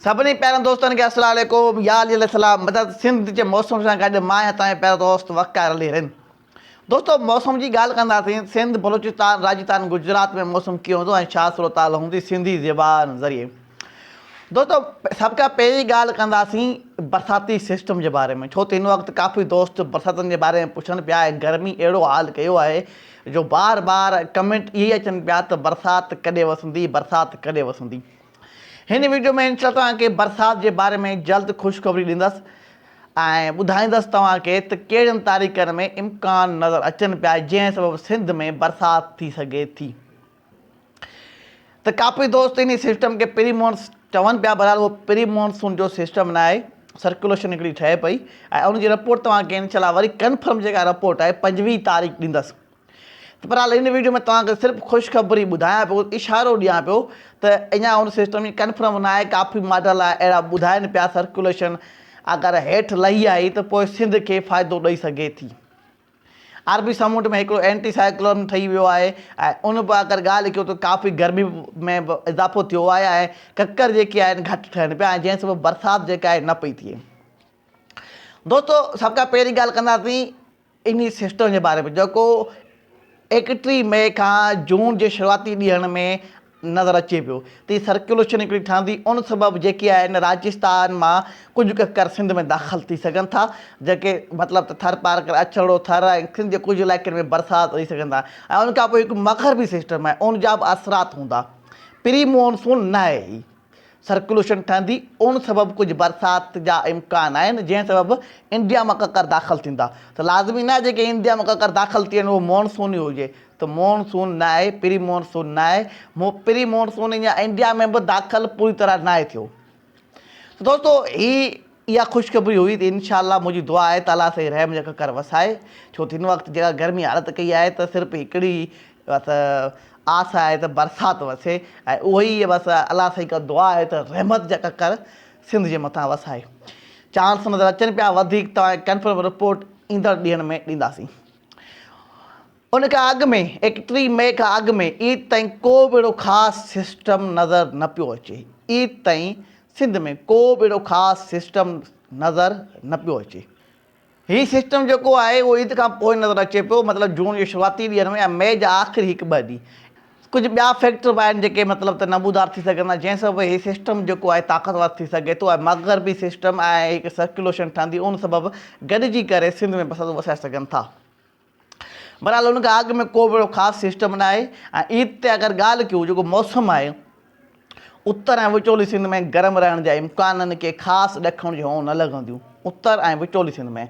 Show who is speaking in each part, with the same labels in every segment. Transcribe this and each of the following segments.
Speaker 1: سڀني پيارن دوستن کي السلام عليڪم يا علي السلام مدد سنڌ جي موسم سان گڏ مان آهيان توهان جو پيارو دوست وقار علي رند دوستو موسم جي ڳالهه ڪنداسين سنڌ بلوچستان راجستان گجرات ۾ موسم ڪيئن هوندو ۽ ڇا صورتحال هوندي سنڌي زبان ذريعي دوستو سڀ کان پهرين ڳالهه ڪنداسين برساتي سسٽم جي باري ۾ ڇو ته هن وقت ڪافي دوست برساتن جي باري ۾ پڇن پيا ۽ گرمي اهڙو حال ڪيو آهي جو بار بار ڪمينٽ اهي اچن پيا ته برسات ڪڏهن وسندي برسات ڪڏهن وسندي هن ويڊيو ۾ انشاء توهان کي برسات جي باري ۾ جلد خوشخبري ڏيندس ۽ ٻڌائيندس توهان کي ته ڪهڙين تاريخن ۾ امڪان نظر اچن پيا جنهن سبب سنڌ ۾ برسات ٿي سگهي ٿي ته ڪاپي دوست انهي سسٽم کي پري مونس چون پيا بهرحال اهو پري مونسون جو سسٽم ناهي سرڪوليشن هڪڙي ٺهي پئي ۽ ان جي رپورٽ توهان کي انشاء الله وري ڪنفرم جيڪا رپورٽ آهي پنجويهه تاريخ ڏيندس بھرحال ھن وڊيو ۾ توھان کي صرف خوشخبري ٻڌايان پيو اشارو ڏيان پيو ته اڃان اھو سسٽم ايئن ڪنفرم ناھي ڪافي ماڊل اھڙا ٻڌائين پيا سرڪيوليشن اگر ھيٺ لھي آئي ته پوء سنڌ کي فائدو ڏئي سگھي ٿي عربي سمنڊ ۾ ھڪڙو اينٽي سائيڪلون ٺھي ويو آھي ۽ ان به اگر ڳالھه ڪيو ته ڪافي گرمي ۾ به اضافو ٿيو آھي ۽ ڪڪر جيڪي آھن گھٽ ٺھن پيا ۽ جنھن سبب برسات جيڪا آھي نه پئي ٿئي دوستو سڀ کان پھرين ڳالھه ڪنداسين انهي سسٽم جي باري ۾ جيڪو ايڪٽيهه مئي کان جون جي شروعاتي ڏينهن ۾ نظر اچي پيو ته هي سرڪيوليشن هڪڙي ٺهندي ان سبب جيڪي آهن راجستان مان ڪجهه ڪڪر سنڌ ۾ داخل ٿي سگهن ٿا جيڪي مطلب ته ٿر پار ڪري اڇڙو ٿر ۽ سنڌ جي ڪجهه علائقن ۾ برسات رهي سگهن ٿا ۽ ان کان پوء هڪ مغربي سسٽم آهي ان جا به اثرات هوندا پري مون سون ناهي هي سرڪيوليشن ٺهندي ان سبب ڪجهه برسات جا امڪان آهن جنهن سبب انڊيا مان ڪڪر داخل ٿيندا ته لازمي ناهي جيڪي انڊيا مان ڪڪر داخل ٿين اهو مون سون ئي هجي ته مون سون ناهي پري مون سون ناهي پري مون سون اڃا انڊيا ۾ به داخل پوري طرح ناهي ٿيو ته دوستو هي اها خوشخبري هئي ته انشاء الله منهنجي دعا آهي ته الله سائين رحم جا ڪڪر وسائي ڇو ته هن وقت جيڪا گرمي حالت ڪئي آهي ته صرف هڪڙي ئي بس آس آهي ته برسات وسي ۽ اهو ئي بس الله سائين کان دعا آهي ته رحمت جا ڪڪر سنڌ جي مٿان وسائي چانس نظر اچن پيا وڌيڪ توهان کي ڪنفرم رپورٽ ايندڙ ڏينهن ۾ ڏينداسين. ان کان اڳ ۾ ايڪٽري مئي کان اڳ ۾ عيد تائين ڪو به اهڙو خاص سسٽم نظر نه پيو اچي عيد تائين سنڌ ۾ ڪو به اهڙو خاص سسٽم نظر نه پيو اچي هي سسٽم جيڪو آهي اهو عيد کان پوء نظر اچي پيو مطلب جون جي شروعاتي ڏينهن ۾ يا مئي جا آخري هڪ ٻه ڏينهن ڪجهه ٻيا فيڪٽر به آهن جيڪي مطلب ته نمودار ٿي سگهن ٿا جنهن سبب هي سسٽم جيڪو آهي طاقتور ٿي سگهي ٿو ۽ مغربي سسٽم ۽ هڪ سرڪيوليشن ٺهندي ان سبب گڏجي ڪري سنڌ ۾ بسنت وسائي سگهن ٿا. بھرحال ان کان اڳ ۾ ڪو به اھڙو خاص سسٽم نه آھي ۽ عيد تي اگر ڳالھ ڪيون جيڪو موسم آھي اتر ۽ وچولي سنڌ ۾ گرم رھڻ جا امڪانن ڪي خاص ڏکڻ جھون نه لڳنديون اتر ۽ وچولي سنڌ ۾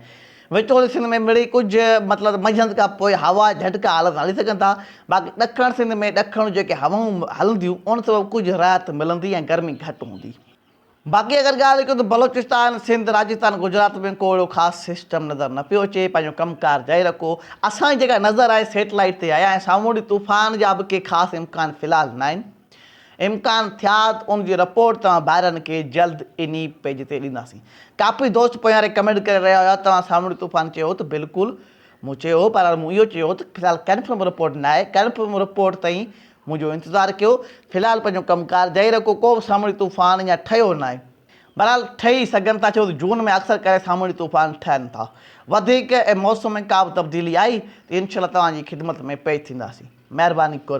Speaker 1: وچولي سنڌ ۾ مڙئي ڪجھ مطلب منجھند کان پوء ھوا جھٽڪا ھلندا ھلي سگھن ٿا باقي ڏکڻ سنڌ ۾ ڏکڻ جون جيڪي ھوائون ھلنديون ان سبب ڪجھ راحت ملندي ۽ گرمي گھٽ ھوندي. باقي اگر ڳالهه ڪيون ته بلوچستان، سنڌ، راجستان، گجرات ۾ ڪو اهڙو خاص سسٽم نظر نه پيو اچي، پنهنجو ڪم ڪار جاري رکو، اسان جي جيڪا نظر آهي سيٽلائيٽ تي آهي ۽ سامونڊي طوفان جا به ڪي خاص امڪان في الحال ناهن، امڪان ٿيا ته ان جي رپورٽ توهان ڀائرن کي جلد انهي پيج تي ڏينداسين. ڪافي دوست پوياري ڪمينٽ ڪري رهيا هيا توهان سامونڊي طوفان چيو ته بلڪل مون چيو هو، بهرحال مون اهو چيو هو ته في الحال ڪنفرم رپورٽ ناهي، ڪنفرم رپورٽ تائين منهنجو انتظار ڪيو، في الحال پنهنجو ڪم ڪار جاري رکو، ڪو به سامونڊي طوفان يا ٺهيو ناهي. بهرحال ٺهي سگهن ٿا ڇو ته جون ۾ اڪثر ڪري سامونڊي طوفان ٺهن ٿا. وڌيڪ ۽ موسم ۾ ڪا به تبديلي آئي ته انشاء الله توهان جي خدمت ۾ پيش ٿينداسين. مهرباني ڪر.